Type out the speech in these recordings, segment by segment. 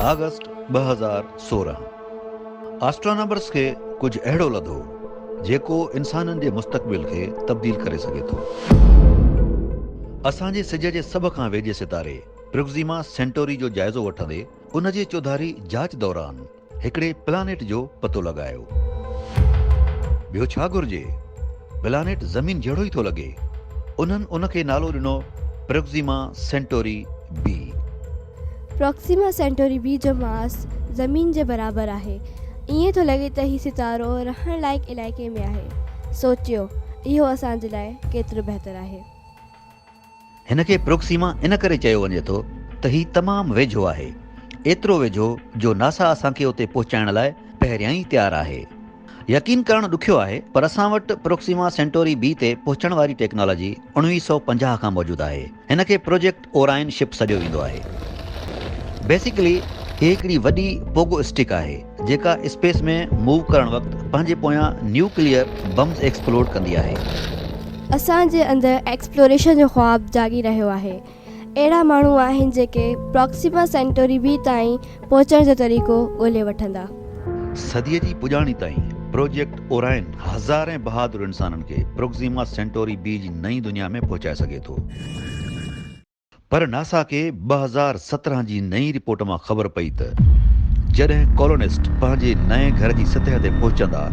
August ٻه هزار سورهن آسٽرانامرس کي ڪجهه اهڙو لڌو جيڪو انسانن جي مستقبل کي تبديل ڪري سگهي ٿو. اسان جي سج جي سڀ کان ويجهي ستاري پروڪسيما سينٽوري جو جائزو وٺندي ان جي چوڌاري جاچ دوران هڪڙي پلانيٽ جو پتو لڳايو. ٻيو ڇا گهرجي؟ پلانيٽ زمين جهڙو ئي ٿو لڳي. انهن ان کي نالو ڏنو Proxima Centauri B. Proxima Centauri B جو ماس زمين جي برابر آهي. ائين ٿو لڳي ته هي ستارو رهڻ لائق علائقي ۾ آهي. سوچيو، اهو اسان جي لاء ڪيترو بهتر آهي. هن کي پروڪسيما ان ڪري چيو وڃي ٿو ته هي تمام ويجهو آهي، ايترو ويجهو جو ناسا اسان کي اتي پهچائڻ لاء پهريان ئي تيار آهي. يقين ڪرڻ ڏکيو آهي پر اسان وٽ پروڪسيما سينٽوري بي تي پهچڻ واري ٽيڪنالاجي اوڻويهه سؤ پنجاهه کان موجود آهي. هن کي پروجيڪٽ اوراين شپ سڏيو ويندو آهي. بيسيڪلي هي هڪڙي وڏي پوگو اسٽڪ آهي. جيڪا اسپيس ۾ موو ڪرڻ وقت پنهنجي پويان نيوڪليئر بمز ايڪسپلوڊ ڪندي آهي. اسان جي اندر ايڪسپلوريشن جو خواب جاڳي رهيو آهي. اهڙا ماڻهو آهن جيڪي پراڪسيما سينٽوري بي تائين پهچڻ جو طريقو ڳولي وٺندا. صديء جي پڄاڻي تائين پروجيڪٽ اوراين هزارين بهادر انسانن کي پروڪسيما سينٽوري بي جي نئين دنيا ۾ پهچائي سگهي ٿو. پر ناسا کي ٻه هزار سترهن جي نئين رپورٽ مان خبر پئي ته جڏهن ڪالونسٽ پنهنجي نئين گهر جي سطح تي پهچندا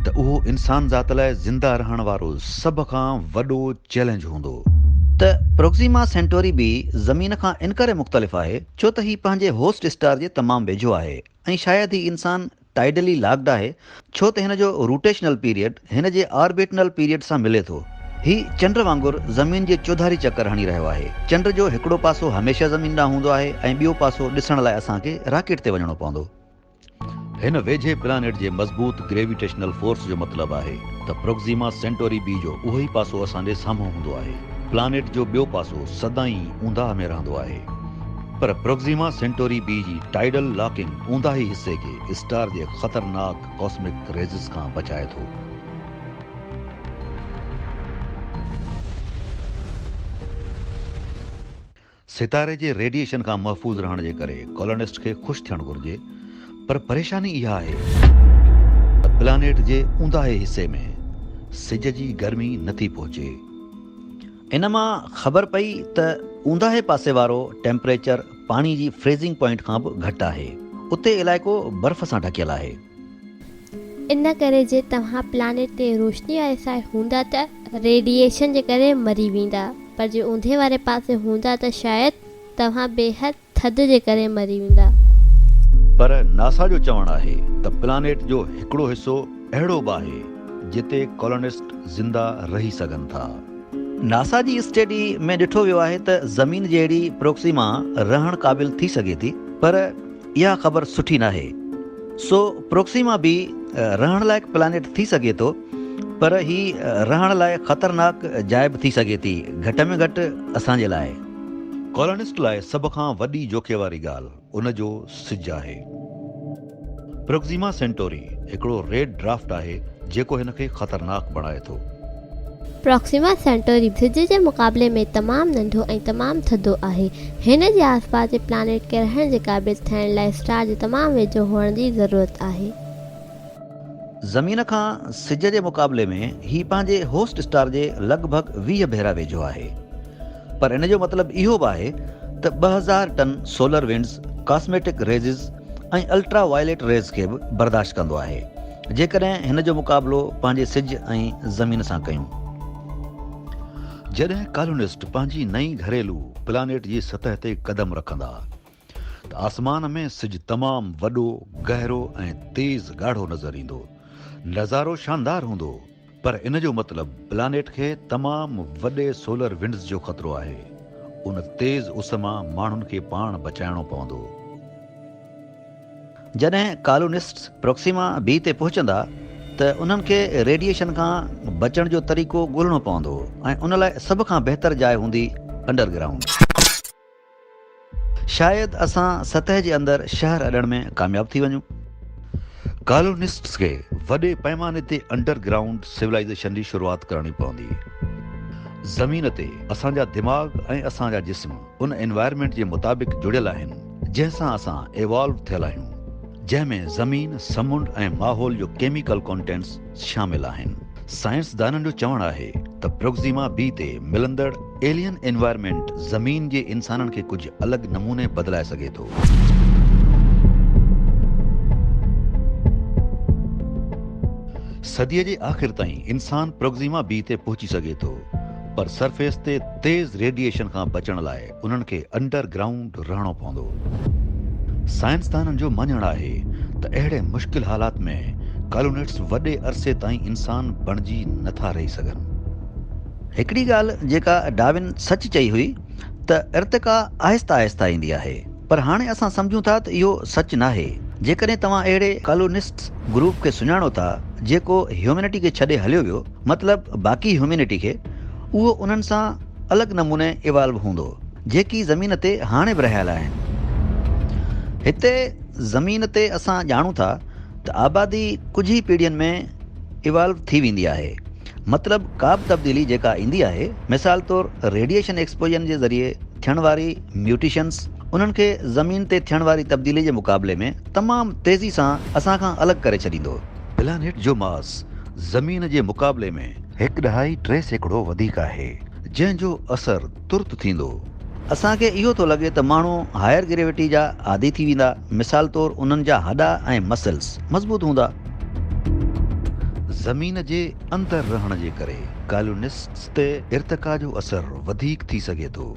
ته اهو انسان ذات لاء زنده رهڻ وارو سڀ کان وڏو چئلينج هوندو. ته پروڪسيما سينٽوري به زمين کان ان ڪري مختلف آهي ڇو ته هي پنهنجي هوسٽ اسٽار جي تمام ويجهو آهي ۽ شايد هي انسان ٽائيڊلي لاڪڊ آهي ڇو ته هن جو روٽيشنل پيريڊ هن جي آربيٽنل پيريڊ سان ملي ٿو. هي چنڊ وانگر زمين جي چوڌاري چڪر هڻي رهيو آهي. چنڊ جو هڪڙو پاسو هميشه زمين ڏانهن هوندو آهي ۽ ٻيو پاسو ڏسڻ لاء اسان کي راڪيٽ تي وڃڻو پوندو. هن ويجهي پلانيٽ جي مضبوط گريويٽيشنل فورس جو مطلب آهي ته پروڪسيما سينٽوري بي جو اهو ئي پاسو اسان جي سامهون هوندو آهي. پلانيٽ جو ٻيو پاسو سدائين اونداهه ۾ رهندو آهي. پر پروڪسيما سينٽوري بي جي ٽائيڊل لاڪنگ اونداهي حصي کي اسٽار جي خطرناڪ ڪاسمڪ ريزز کان بچائي ٿو. ستاري جي ريڊيئيشن کان محفوظ رهڻ جي ڪري ڪالونسٽ کي خوش ٿيڻ گهرجي پر پريشاني اها آهي ته پلانيٽ جي اونداهي حصي ۾ سج جي گرمي نٿي پهچي. ان مان خبر پئي ته اونداهي پاسي وارو ٽيمپريچر پاڻي جي فريزنگ پوائنٽ کان به گهٽ آهي. اتي علائقو برف سان ڍڪيل آهي. ان ڪري جي توهان پلانيٽ تي روشني واري سائيڊ هوندا ته ريڊيئيشن جي ڪري مري ويندا پر جي اوندهي واري پاسي هوندا ته شايد توهان بيحد ٿڌ جي ڪري مري ويندا. پر ناسا جو چوڻ آهي ته پلانيٽ جو هڪڙو حصو اهڙو به آهي جتي ڪالونسٽ زنده رهي سگهن ٿا. ناسا جي اسٽيڊي ۾ ڏٺو ويو آهي ته زمين جهڙي پروڪسيما رهڻ قابل ٿي سگهي ٿي پر اها خبر سٺي ناهي. سو پروڪسيما به رهڻ لائق پلانيٽ ٿي سگهي ٿو پر هي رهڻ لاء خطرناڪ جاء به ٿي سگهي ٿي گهٽ ۾ گهٽ اسان جي لاء. ڪالونسٽ لاء سڀ کان وڏي جوکي واري ڳالهه ان جو سج آهي. پروڪسيما سينٽوري هڪڙو ريڊ ڊرافٽ آهي جيڪو هن کي خطرناڪ بڻائي ٿو. پروڪسيما سينٽوري سج جي مقابلي ۾ تمام ننڍو ۽ تمام ٿڌو آهي. هن جي آسپاس جي پلانيٽ ڪرهڻ جي قابل ٿيڻ لاء اسٽار جي تمام ويجهو هئڻ جي ضرورت آهي. زمين کان سج جي مقابلي ۾ هي پنهنجي هوسٽ اسٽار جي لڳ ڀڳ ويهه ڀيرا ويجهو آهي. پر ان جو مطلب اهو به آهي ته ٻه هزار ٽن solar winds cosmetic rays ۽ ultraviolet rays کي به برداشت ڪندو آهي جيڪڏهن هن جو مقابلو پنهنجي سج ۽ زمين سان ڪيون. جڏهن ڪالونسٽ پنهنجي نئين گهريلو پلانيٽ جي سطح تي قدم رکندا ته آسمان ۾ سج تمام وڏو، گهرو ۽ تيز ڳاڙهو نظر ايندو. نظارو شاندار هوندو، پر ان جو مطلب پلانيٽ کي تمام وڏي سولر ونڊز جو خطرو آهي. ان تيز اس مان ماڻهن کي پاڻ بچائڻو پوندو. جڏهن ڪالونسٽس پروڪسيما بي تي پهچندا ته انهن کي ريڊيئيشن کان بچڻ جو طريقو ڳولهڻو پوندو ۽ ان لاء سڀ کان بهتر جاء هوندي انڊرگرائونڊ. شايد اسان سطح جي اندر شهر اڏڻ ۾ ڪامياب ٿي وڃون. ڪالونسٽس کي وڏي پئماني تي انڊر گرائونڊ سولائيزيشن جي شروعات ڪرڻي پوندي. زمين تي اسان جا دماغ ۽ اسان جا جسم ان انوائرمينٽ جي مطابق جڙيل آهن جنهن سان اسان ايوالو ٿيل آهيون جنهن ۾ زمين، سمنڊ ۽ ماحول جو ڪيميڪل ڪونٽينٽس، شامل آهن. سائنسدانن جو چوڻ آهي ته پروڪسيما بي تي ملندڙ ايلين انوائرمينٽ زمين جي انسانن کي ڪجهه الڳ نموني بدلائي سگهي ٿو. صديء جي آخر تائين انسان پروڪسيما بي تي پهچي سگهي ٿو پر سرفيس تي تيز ريڊيئيشن کان بچڻ لاء انهن کي انڊر گرائونڊ رهڻو پوندو. سائنسدانن جو مڃڻ آهي ته اهڙي مشڪل حالات ۾ ڪالونيٽس وڏي عرصي تائين انسان بڻجي نه ٿا رهي سگهن. هڪڙي ڳالهه جيڪا ڊاروين سچ چئي هئي ته ارتقا آهسته آهسته ايندي آهي پر هاڻي اسان سمجهون ٿا ته اهو سچ ناهي. جيڪڏهن توهان اهڙي ڪالونسٽس گروپ کي سڃاڻو ٿا جيڪو هيومينٽي کي ڇڏي هليو ويو مطلب باقي هيومينٽي کي اهو انهن سان الڳ نموني ايوالو هوندو جيڪي زمين تي هاڻي به رهيل آهن. هتي زمين تي اسان ڄاڻون ٿا ته آبادي ڪجهه ئي پيڙهين ۾ ايوالو ٿي ويندي آهي مطلب ڪابه تبديلي جيڪا ايندي آهي مثال طور ريڊيئيشن ايڪسپوجن جي ذريعي ٿيڻ واري ميوٽيشنس انهن کي زمين تي ٿيڻ واري تبديلي جي مقابلي ۾ تمام تيزي سان اسان کان الڳ ڪري ڇڏيندو. پلانيٽ جو ماس زمين جي مقابلي ۾ هڪ ڏهائي ٽي سيڪڙو وڌيڪ آهي، جنهن جو اثر ترت ٿيندو. اسان کي اهو ٿو لڳي ته ماڻهو هائر گريويٽي جا عادي ٿي ويندا، مثال طور انهن جا هڏا ۽ مسلز مضبوط هوندا. زمين جي اندر رهڻ جي ڪري ڪالونسٽس تي ارتقا جو اثر وڌيڪ ٿي سگهي ٿو.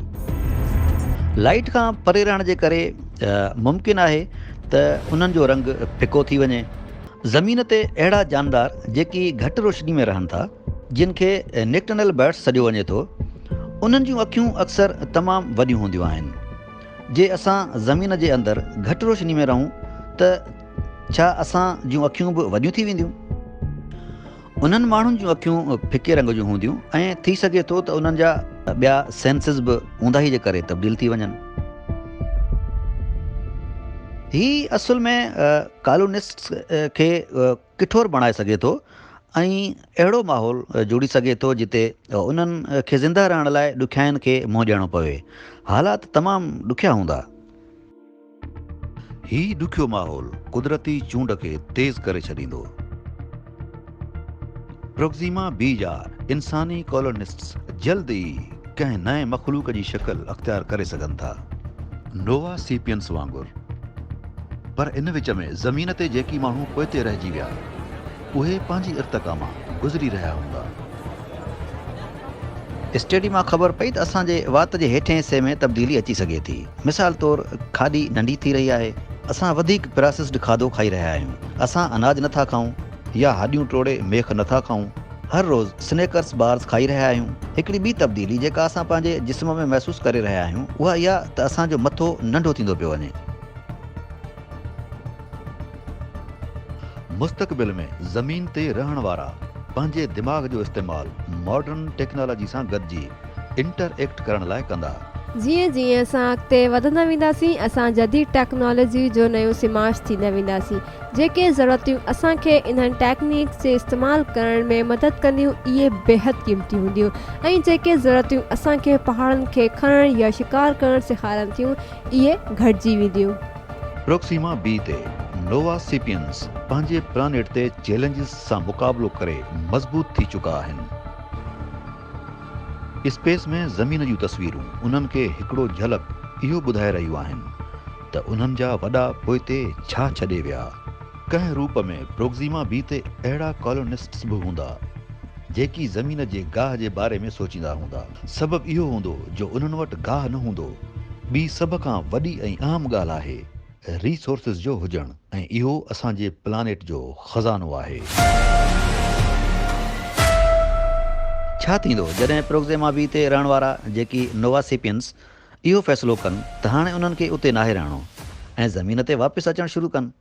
لائيٽ کان پري رهڻ جي ڪري ممڪن آهي ته انهن جو رنگ ڦڪو ٿي وڃي. زمين تي اهڙا جاندار جيڪي گهٽ روشني ۾ رهن ٿا، جن کي نڪٽرنل برڊس سڏيو وڃي ٿو، انهن جون اکيون اڪثر تمام وڏيون هونديون آهن. جي اسان زمين جي اندر گهٽ روشني ۾ رهون ته ڇا اسان جون اکيون به وڏيون ٿي وينديون؟ انهن ماڻهن جون اکيون ڦڪي رنگ جون هونديون ۽ ٿي سگهي ٿو ته انهن جا ٻيا سينسز به اونداهي جي ڪري تبديل ٿي وڃن. هي اصل ۾ ڪالونسٽس کي ڪٺور بڻائي سگهي ٿو ۽ اهڙو ماحول جوڙي سگهي ٿو جتي انهن کي زنده رهڻ لاء ڏکيائين کي منهن ڏيڻو پوي. حالات تمام ڏکيا هوندا. هي ڏکيو ماحول قدرتي چونڊ کي تيز ڪري ڇڏيندو. پروڪزيما بي جا انساني ڪالونسٽس جلد ئي ڪنهن نئين مخلوق جي شڪل اختيار ڪري سگهن ٿا، نووا سيپيئنس وانگر، پر ان وچ ۾ زمين تي جيڪي ماڻهو پوئتي رهجي ويا، اهي پنهنجي ارتقا مان گذري رهيا هوندا. اسٽيڊي مان خبر پئي ته اسان جي وات جي هيٺين حصي ۾ تبديلي اچي سگهي ٿي. مثال طور کاڏي ننڍي ٿي رهي آهي. اسان وڌيڪ پراسسڊ کاڌو کائي رهيا آهيون. اسان اناج نه ٿا کائون يا هڏيون ٽوڙي ميخ نه ٿا کائون. هر روز سنيڪرس بارز کائي رهيا آهيون. هڪڙي ٻي تبديلي جيڪا اسان پنهنجي جسم ۾ محسوس ڪري رهيا آهيون اها اها ته اسان جو مٿو ننڍو ٿيندو پيو وڃي. مستقبل ۾ زمين تي رهڻ وارا پنهنجي دماغ جو استعمال ماڊرن ٽيڪنالاجي سان گڏجي انٽر ايڪٽ ڪرڻ لاء ڪندا. جيئن جيئن اسان اڳتي وڌندا وينداسين اسان جديد ٽيڪنالاجي جو نيون سماج ٿيندا وينداسين. جيڪي ضرورتيون اسان کي انهن ٽيڪنيڪس جي استعمال ڪرڻ ۾ مدد ڪنديون اهي بيحد قيمتي هونديون ۽ جيڪي ضرورتيون اسان کي پهاڙن کي کڻڻ يا شڪار ڪرڻ سيکارن ٿيون اهي گهٽجي وينديون. پروڪسيما بي تي نووا سيپيئنس پنهنجي پلانيٽ تي چئلينجز سان مقابلو ڪري مضبوط ٿي چڪا آهن. اسپيس ۾ زمين جون تصويرون انهن کي هڪڙو جهلڪ اهو ٻڌائي رهيون آهن ته انهن جا وڏا پوئتي ڇا ڇڏي ويا. ڪنهن روپ ۾ پروگزيما بي تي اهڙا ڪالونسٽس به هوندا، جيڪي زمين جي گاهه جي باري ۾ سوچيندا هوندا. سبب اهو هوندو جو انهن وٽ گاهه نه هوندو. ٻي سڀ کان وڏي ۽ اهم ڳالهه آهي ريسورسز جو هجڻ ۽ اهو اسان جي پلانيٽ جو خزانو آهي. ڇا ٿيندو جڏهن پروگزيما بي تي رهڻ وارا، جيڪي نوواسيپينس، اهو فيصلو ڪن ته هاڻي انهن کي اتي ناهي رهڻو ۽ زمين تي واپس اچڻ شروع ڪن؟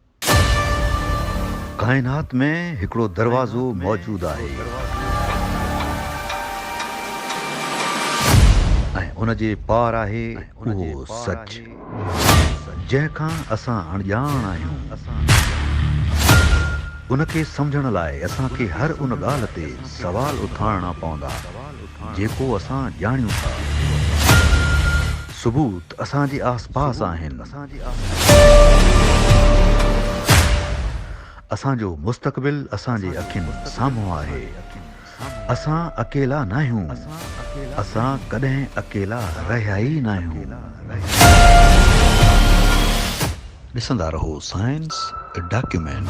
ڪائنات ۾ هڪڙو دروازو موجود آهي ۽ ان جي پار آهي اهو سچ جنهن کان اسان اڻڄاڻ آهيون. ان کي سمجهڻ لاء اسان کي هر ان ڳالهه تي سوال اٿارڻا پوندا. جيڪو اسان ڄاڻيون ٿا. ثبوت اسان جي آس پاس آهن. اسان جو مستقبل اسان جي اکين سامهون آهي. اسان اڪيلا ناهيون. اسان ڪڏهن اڪيلا رهيا ئي ناهيون. ڏسندا رهو سائنس ڊاڪيومينٽ.